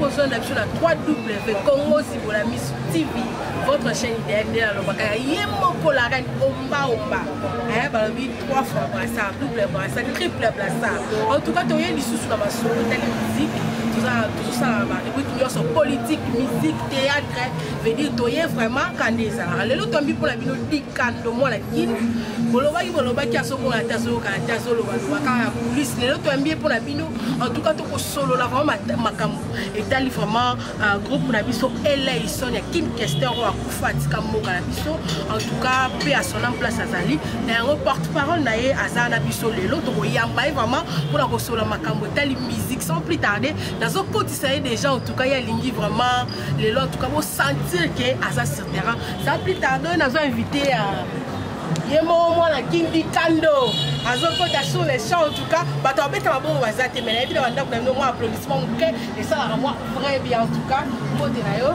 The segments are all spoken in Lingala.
kozwa na biso na 3w congo zibola miso tv votre chaîne idéal nde nalobaka ya ye moko la reine ombaomba eh, balobi 3 fois brassard double brassard triple brassard en tout cas toye lisusu na masolo tali musique tozosala barubrike nyonso politique musique théâtre veut dire toye vraiment kanda ezalaka lelo tombi mpo na bino dik kando mwana kini bolobaki bolobaki azokola ata azoyoka ata azolobaloba kaka ya polise lelo toyambi ye mpo na bino entouka tokosolola vraimen makambo etali vraiment euh, groupe na biso eleison ya kim kester oyo akufa atika mboka na biso entouka mpe asona place azali na yango porte parole na ye aza na biso lelo tokoyamba ye vraiment mpo na kosolola makambo etali musique sans plus tarde nazokotisa ye déjà entouka ye alingi vraiment lelo en tout cas bo sentir que aza sur terrain ça plus tard donc nazo invité à ye moko mwana kindi kando azokota sur les champs en tout cas bato babeta mabongo baza te mai nayebi na bandako na bino mwa applaudissement moke esalaka mwa vrai bien en tout cas mbote na yo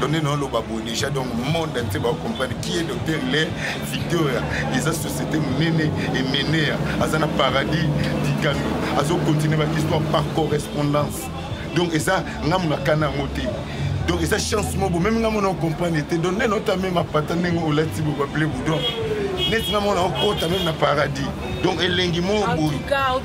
donc nde naoloba boye déjà donc monde entier bacomprendre qui est docteur hilaire victoria eza société monene emenea aza na paradis dikano azocontinue bahistoire par correspondance donc eza nga monaka na yango te donc eza chance moko meme nga mona ocomprendre te donc nde nota meme apata ndenge olati bobaple boudon neti nga mona okota meme na paradis donc elengi moko boye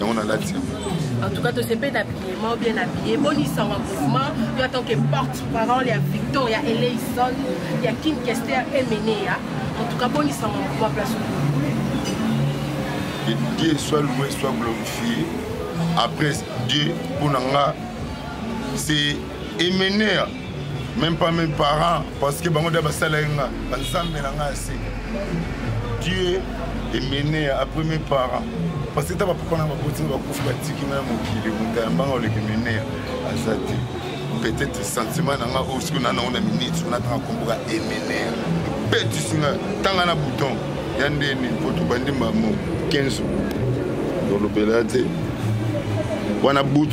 yango nalati yango en tout cas tosepeli na billement bien na bille bonisanga mouvement yo atant que porte parole ya victoria eleison ya kim kester emeneya en tout cas bonisanga mouvement place que dieu soit loué soit glorifié après dieu mpo na nga c'est emeneya même pas mes parents parce que bango da basalaki nga banzambe na nga ya sika dieu emene après mes parents parce que ta bapapa na baboti na bakufi batiki nga ya mokili moto ya mbanga oleki menea aza te peut-être sentiment na nga oyo soki na nango na minute ona tanga komboka emenea betisi nga tanga na bouton ya ndeni mpo tobandi mbamo 15 olobela te wana but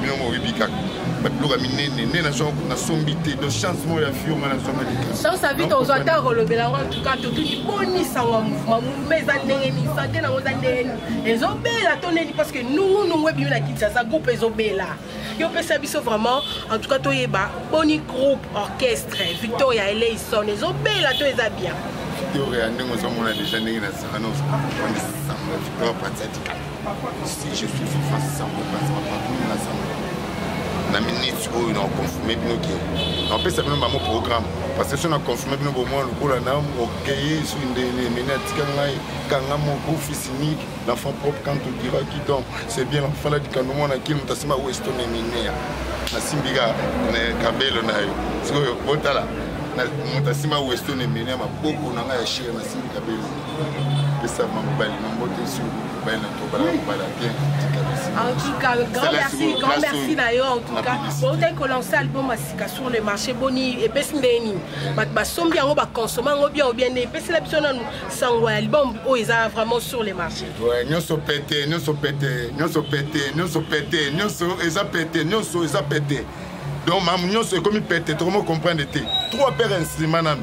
bino moko oyebi kaka babiloko ya minene nde nasombi te do chance moko ya fio nga nazongaki te sasa vita ozwa ata kolobela yango antuka totuki boni sango ya mouvema mouvema eza ndenge nini sante nango eza ndenge nini ezobela to neni parce que nungunungu ebimi na kinshasa groupe ezobela yo opesa biso vraiment en tout cas toyeba boni groupe orchestre victoria eleison ezobela to eza bien victoria ndenge ozomona deja ndenge na sangana ozaa victoria pratiatika si je suis fifa sango place bapatron na sango na minute oyo na confirme bino ke napesa bino bango programme parce que so na confirme bino bomwa lokola na okeye soki ndele mene atika ngai kanga moko fils unique l'enfant propre quand tu dira qui donc c'est bien fala dikando mwana kili moto asimba weston eminea nasimbi ka kabelo na yo sikoyo botala moto asimba weston eminea maboko na ngai ya shere nasimbi kabelo pesa mobali na mbote sur mobali na tobala mobala bien En tout cas, grand merci, grand merci d'ailleurs. En tout cas, on a commencé l'album Asika sur le marché Boni et Pesndeni. Bat basombi yango ba consommer yango bien ou bien ne pesi la biso nanu sango album oyo eza vraiment sur le marché. Ouais, nyoso pete, nyoso pete, nyoso pete, nyoso pete, nyoso eza pete, nyoso eza pete. Donc mamu nyoso ekomi pete, tokomo comprendre te. Trois paires instruments nanu.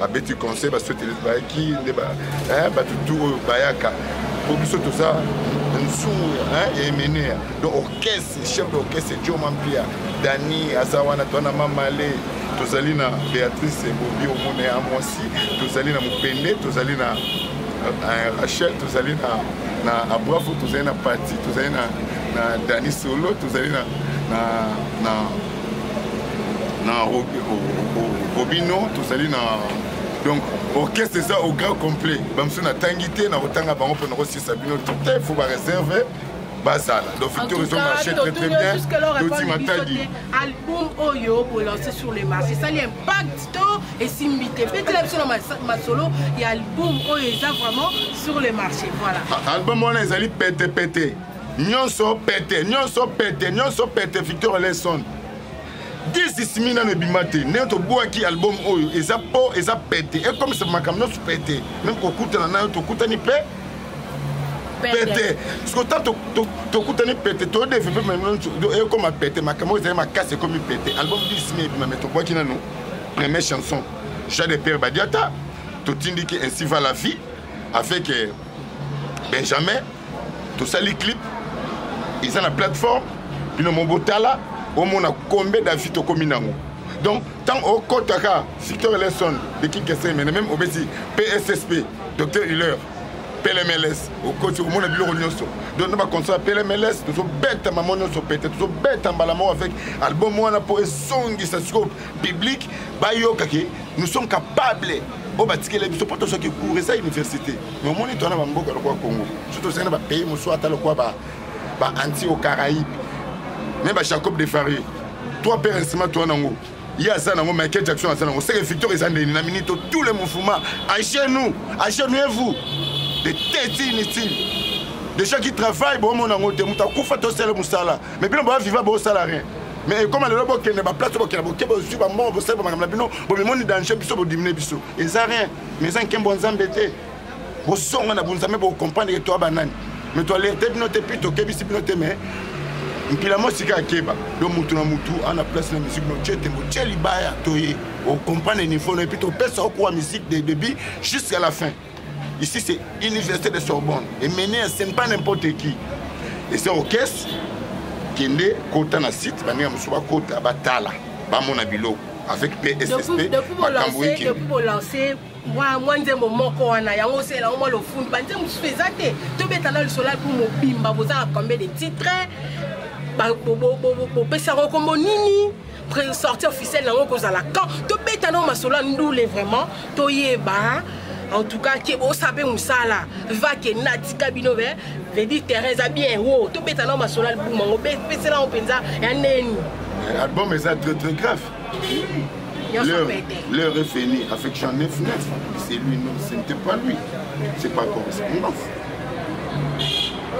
babeti conseil baswetele bayaki nde bato tu oyo bayaka mpo biso toza nsumu ya emenea donc orchestre chef d'orchestre joma mpia dani aza wana toana mamale tozali na béatrice bobi omona ya mwasi tozali na mopende tozali na euh, rachel tozali na na abrafo tozali na pati tozali na, na dani solo tozali na, na, na na robino tozali na donc orchestre eza au grand complet bamosusu natangi te nakotanga bango mpo nakosisa bino tout te faut bareserve bazala donc victor ezo marché très très bien toti matadi album oyo bolancé sur le marché esali impact to esimbi te betela biso na masolo ya album oyo eza vraiment sur le marché voilà ah, album wana ezali pete pete nyonso pete nyonso pete nyonso pete victor leson disisimi nano ebima te ndenge tobwaki album oyo eza po eza pete ekomisa makambo nyonso pete meme kokutana nayo tokutani mpe pete siko ta tokutani pete todevepe ekoma pete makambo oyo ezali makasi ekomi pete album disisimi ebima me tobwaki nano premier chanson jean de pierre badiata totindiki ainsi va la vie avec euh, benjamin tosali clip eza na plateforme bino mo botala omona combien d'avis tokomi nango donc ntango okotaka victor eleson de kinkesemene meme obeti pssp docteur huller plmls okoti omona biloko nyonso donc na baconcert ya plmls tozobeta mamo nyonso pete tozobeta mbala moko avec album wana mpo ezongisa sikoyo publike bayokaki nous sommes capable oyo batikela biso mpo tozwaki cour eza université mais omoni twana bamboka lokola congo so tozali na bapays mosusu ata lokola baanti au caraïbe me bajacob de farie trois père nsima twana yango ye aza nango michael jackson aza nango seke victor eza ndeni na minito tous les mouvements agez nous agez nous et vous de tete inutile des gens qui travaillent bomona yango te moto akufa tosala mosala mais bino boya viva bosala rien mais ekoma lelo bokende baplace bokenda bokeba ozwi bambongo bosali bamakambo na bino bomimoni danger biso bodimine biso eza rien mais eza nkembo ya nzambe te bozonga na bonzambe bokomprendre ke toa banani mais toalerte bino te puis tokebisi bino te mais mpila mosika akeba do mutu na mutu ana place na musique no tie tembo tie libaya toye okomprendre niveau no epuis topesa okuwa musique de début jusqu'à la fin ici c'est université de sorbonne emene ce n'est pas n'importe qui et c'est orchestre kende kota na site baninga mosusu bakota batala bamona biloko avec pssp makambo ekedepuis bolance mwa nzembo moko wana yango osela yango mwa lofundu banzembo mosusu eza te tobeta na lisolo mpo mobimba boza na combien de titre bopesa yango nkombo nini sortie officielle yango ekozala quand tobeta nango masolo ya ndule vraiment toyeba en tout cas ke bosa mpe mosala vake natika bino be vedi terrain eza bien wo tobeta nao masolo album yango pesela yango mpenza ya neni eh, album eza très très grave L'heure est finie. Avec Jean 9-9, c'est lui, non, ce n'était pas lui. C'est pas correspondance.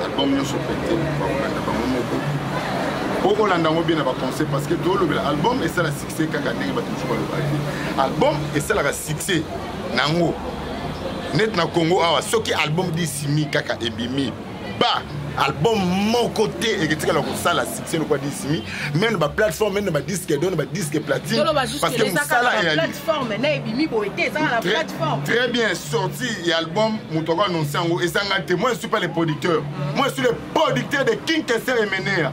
Album Nyoso Pete, Bakolanda Bango Moko. Bakolanda Bango bien na ba conseil parce que tout le album est ça la se kaka ndenge bato mosusu balobaki album esalaka succès na yango neti na congo awa soki album disimi kaka ebimi ba album moko te eketikala kosala succès lokola disimi meme na baplateforme meme na badisque do na badisque platine parce que mosala très bien sorti ya album moto ako annonce yango ezanga te moi je suis pas le producteur moi je suis le producteur de king kester emenea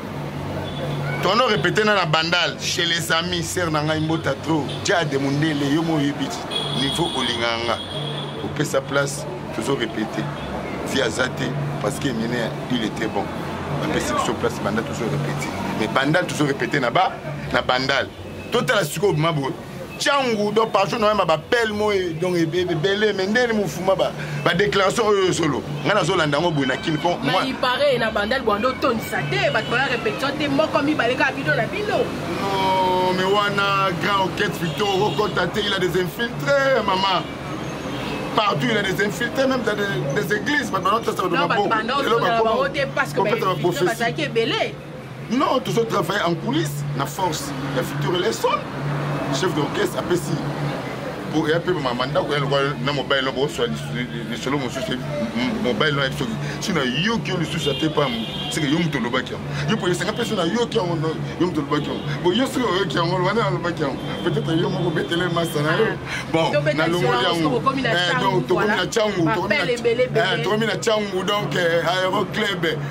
tono repete na na bandal chez les amis ser na ngai mbota tro jade mondele yo mo oyebi ti niveau olingaka nga opesa place tozo repete ti aza te parce que mine il était bon bapesi biso place bandal tozo repete mais bandal tozo repete na ba na bandal totala sikoyo bima boye cangu donc partout noyamba bapele moye donc ebele me ndeni mofuma badéclaration oyo oyo solo ngai nazolanda yango boye na kini po ipare na bandal bwanda otondisa te bato bana répétition te moko mibale kaka bino na bino non me wana grand oket fito okota te il a des infiltré mama partout il a des infiltrés même dans des, des églises bato banotosaka na maboko elobakopesa baprophétie non tozo travaille en coulisse na force ya futur eleson chef d'orchestre apesi ya mpe mama ndako ya lokola na mobali no boswa lisolo mosusu mobali no yabi soki si nayoki yo lisusu ate pa seke yo moto olobaki yango yo mpo esanga mpe so nayoki yango yo moto olobaki yango bo yo soki oyoki yango wana nalobaki yango peut-être yo moko betele masa na yo bon nalongoli yango tokomi na cangu tokomi na cangu donc aero club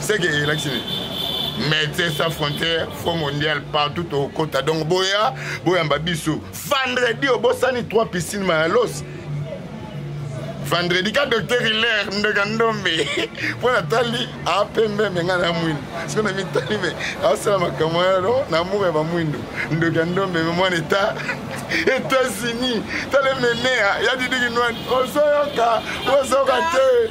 seke elakisi nini médecin sans frontière fo mondial partout tokokota donc boya boyamba biso vendredi obosani 3 piscine mayalos vendredi ka docteur hilaire ndeka ndombe mpo natali apembe me ngai na mwindo siko na mitali me asala makambo yano na amour ya bamwindo ndoka ndombe me mwana eta etats-unis tale menea ya didiki nwani osoyoka osoyoka te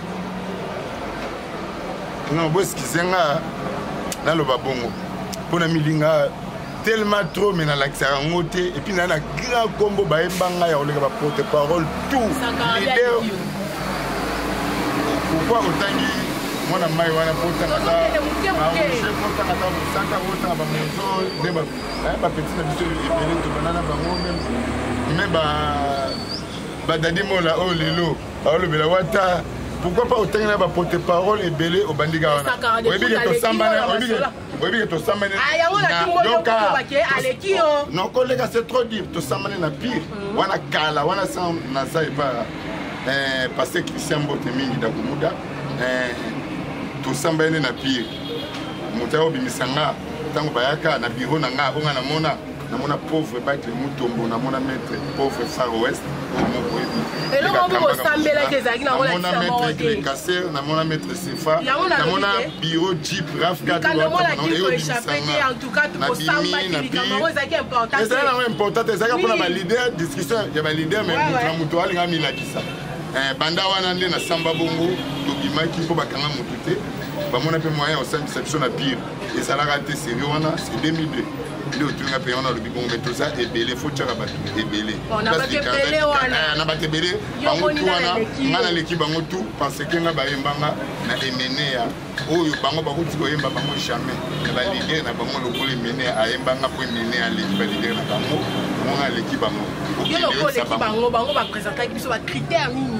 non boeskize nga naloba bongo mpo na milinga tellement trop mais nalakisaka yango te epuis naa na grand nkombo bayemba ngai ya koleka baporte parole tout lider pourkoi otangi mwana mai wana potangata potangata mosaka otanga bamozo nde bapeti na biso ebele tobanana bango meme badadi mola oyo lelo baolobela wata pourquoi pas otangi na baporte parole ebele obandi kaka wana oyebi ke tosambana oyebi ke oyebi ke tosambani non koleka c'est trop dire tosambani na pire mm. wana kala wana naza epa eh, paster christian mbote mingi dakumuda eh, tosambani nde na pire moto ayobimisa nga ntango bayaka na biro na nga abonga namona namona pauvre bakle mutombo namona maître pauvre far west oyo moko yebiamona maître glekaser namona maître sefa namona biro jeep raf katoeobisanganabimiezali nango important te ezalaki mpona balider discussion ya balider mai moto na moto alinga milakisa eh, banda wana nde nasamba bongo tobimaki mpo bakanga motu te bamona mpe moyen ya kosambisa biso na pire ezalaka te serie wana c'est 2002 nde otuni nga mpenga wana alobi bongo mai toza ebele fo tyaka bato ebele oh, na bato ebele eh, bango tu wana nga naleki bango tu parce ke nga bayembanga na emeneya oyo bango bakuti koyemba bango jamais na balidere na bango lokola emeneya ayembanga mpo emeneya aleki balidere na bango bango nga aleki bango yo lokola oleki bango bango bapresentaki biso bacritère nini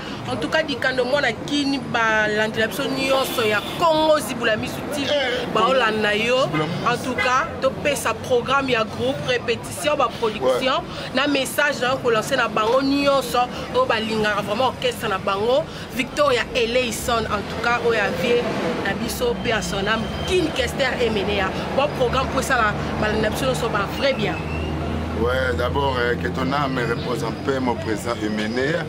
en tout cas dikando mwana kini balandela biso nyonso ya congo zibula misu ti eh, baolanda yo en tout cas topesa programme ya groupe répétition baproduction na message nayo kolanse na bango nyonso oyo balingaka vraiment orchestre na bango victoria eleison en tout cas oyo avie na biso mpe ya son ame kin kester emenea bon programme mpo esala balanda biso nyonso ba vrai bien Ouais, d'abord, euh, que ton âme repose en paix, mon président Emener.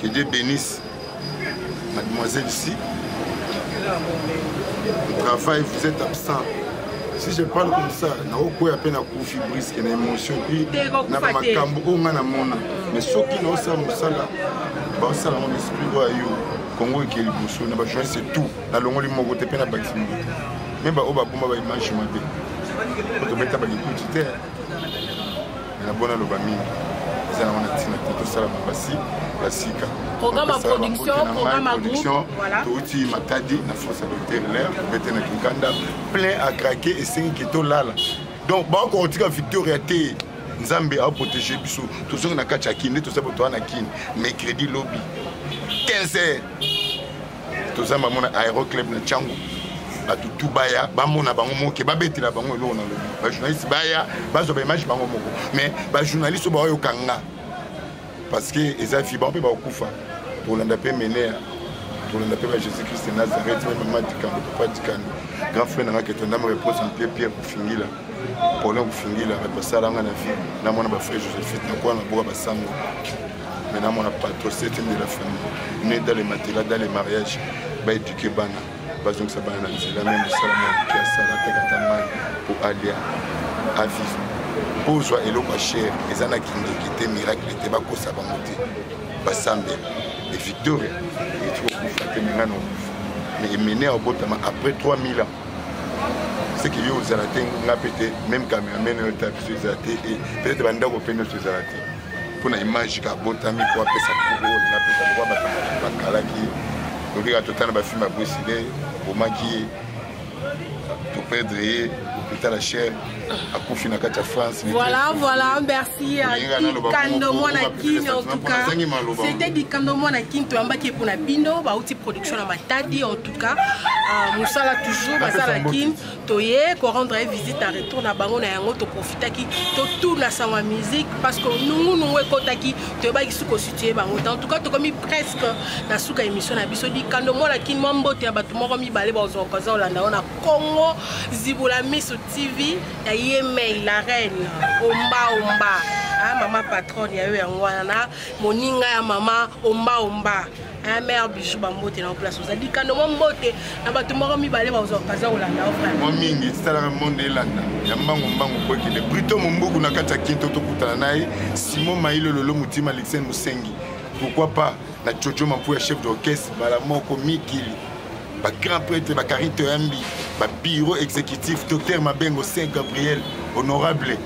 que dieu bénisse mademoiselle ici travail vous êtes absent si je parle comme ça naokwea mpe nakufi briske na émotion mpe na bamakambo oyo ngai namona mais soki naosala mosala baosala ngo esprit oyo yo kongo eke liboso na bajournaliste tout nalongoli moko te mpe nabakisi moko te me baoyo babomba baimage mabe tobeta balikuti te na bona loba mingi eza nango na ntina te tosala basi ya sika programme ya production programme ya production touti matadi na france docteur ler bete na kinkanda plein à craquer esengi ke tolala donc bakokotika victoria te nzambe aprotége biso tozongi na kati ya kini nde toza bato wana na kini mercredi lobi 15 heures toza bango na aéroclub na ntango bato tu baya bamona bango moke babetela bango eloko na lobi bajournaliste baya bazwa baimage bango moko mais bajournaliste oyo baoyoka nga parce que eza fi bango mpe bakokufa tolanda mpe menea tolanda mpe ba jésus christ nazareth mpe mama dikando papa dikando grand frère nanga ketondama repose en pied pierre kofingila paulin kofingila bato basala nga na vie na mwana bafrère josephine nakoya na boka basango Maintenant, mon patron, c'est de la famille. Né dans les matelas, dans les mariages, va éduquer Bana. bazongisa bana na nzela me mosala moke asala atekaka mai mpo alia aviva mpo ozwa eloko ya shere eza na kindoki te miracle te bakosa bango te basambela e victoria eti kokufa te menga na okufa me emene ya obotama après 3000 ans seke yo ozala te nga mpe te meme cameraman oyo ta biso eza te peut-être bandako mpe nyonso ezala te mpo na image ka abotami mpo apesa kuro na pesa lokwa bato bakalaki tokeka totala bafilme ya bosile abomaki ye toperdre ye hôpital achel akufi na kati ya france voilà voilà merci dikando mwana kini en tout cas c'était dikando mwana kini toyambaki ye mpona bino bauti production na matadi en tout cas euh, mosala toujours basala kini toye ko rendre ye visite en retour na bango na yango toprofitaki totuna sango ya musique parce que nungunungu ekotaki toyebaki suka ositue bango te en tout cas tokomi presque na suka émission na biso dikando mwana kini mwa mbote ya bato moko mibale bakozwa okaza olanda yango na congo zibula miso tv ya ye mei la reine ombaomba ah, mama patronne ya yo yango wana na moninga ya mama ombaomba un mère bijou bambote na place oza likando mwa mbote na bato moko mibale baza kolanda yo frère mwa mingi esalaka monde elanda ya mbangu mbangu mpo ekende brito mombuku na kati ya kinto tokutana na ye simon mailo lolo motima alexin mosengi pourquoi pas na jojo mampu ya chef d'orchestre mbala moko mikili bagrand prêtre bakarite oyambi babiro exécutif docteur mabengo saint gabriel honorable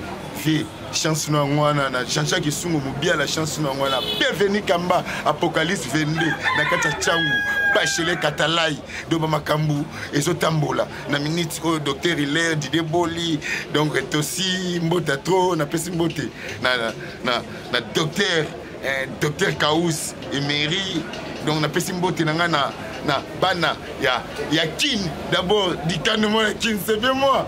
vie chance na yango wana na jean-jacques esungo mobiala chance na yango wana bienvenu kamba apocalypse 22 na kati ya cangu bachele katalai donc bamakambo ezotambola na minute oyo docteur hilaire didie boli donc tosi mbota tro napesi mbote na, na, na, na docteur eh, docteur kaus emery donc napesi mbote na ngai na, na bana ya, ya kin d'abord dikandemo ya kin c'est bien moi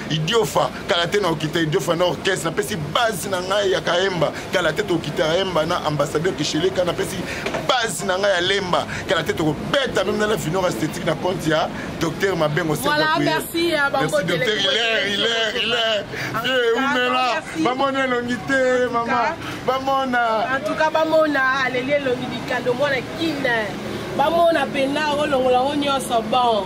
idiofa kala te na okita idiofa na orchestre napesi base na ngai ya kaemba kala te tokita kaemba na ambassadeur kisheleka napesi base na ngai ya lemba kala te tokobeta meme na la finor esthétique na compte ya docteur mabengo umela bamona elongi te mama bamona antuka bamona aleli elongi likando mwana kine bamona pena olongola yango nyonso bon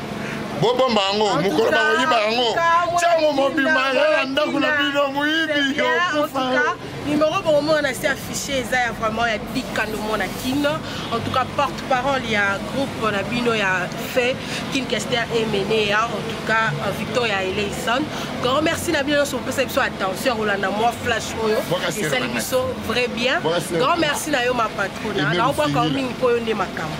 bobomba yango mokolo bakoyiba yango ntango mobima ya na ndako na bino moyibi okufa numéro bokomona na se affiche eza ya vraiment ya dikando mona kin en tout cas porte parole ya groupe na bino ya fait kin kester emenea en tout cas euh, victoria eleison grand merci na bino nyonso bopesa biso attention kolanda mwa flash oyo esali biso vrai bien grand merci na yo ma patrona naobwaka yo mingi mpo yo nde makambo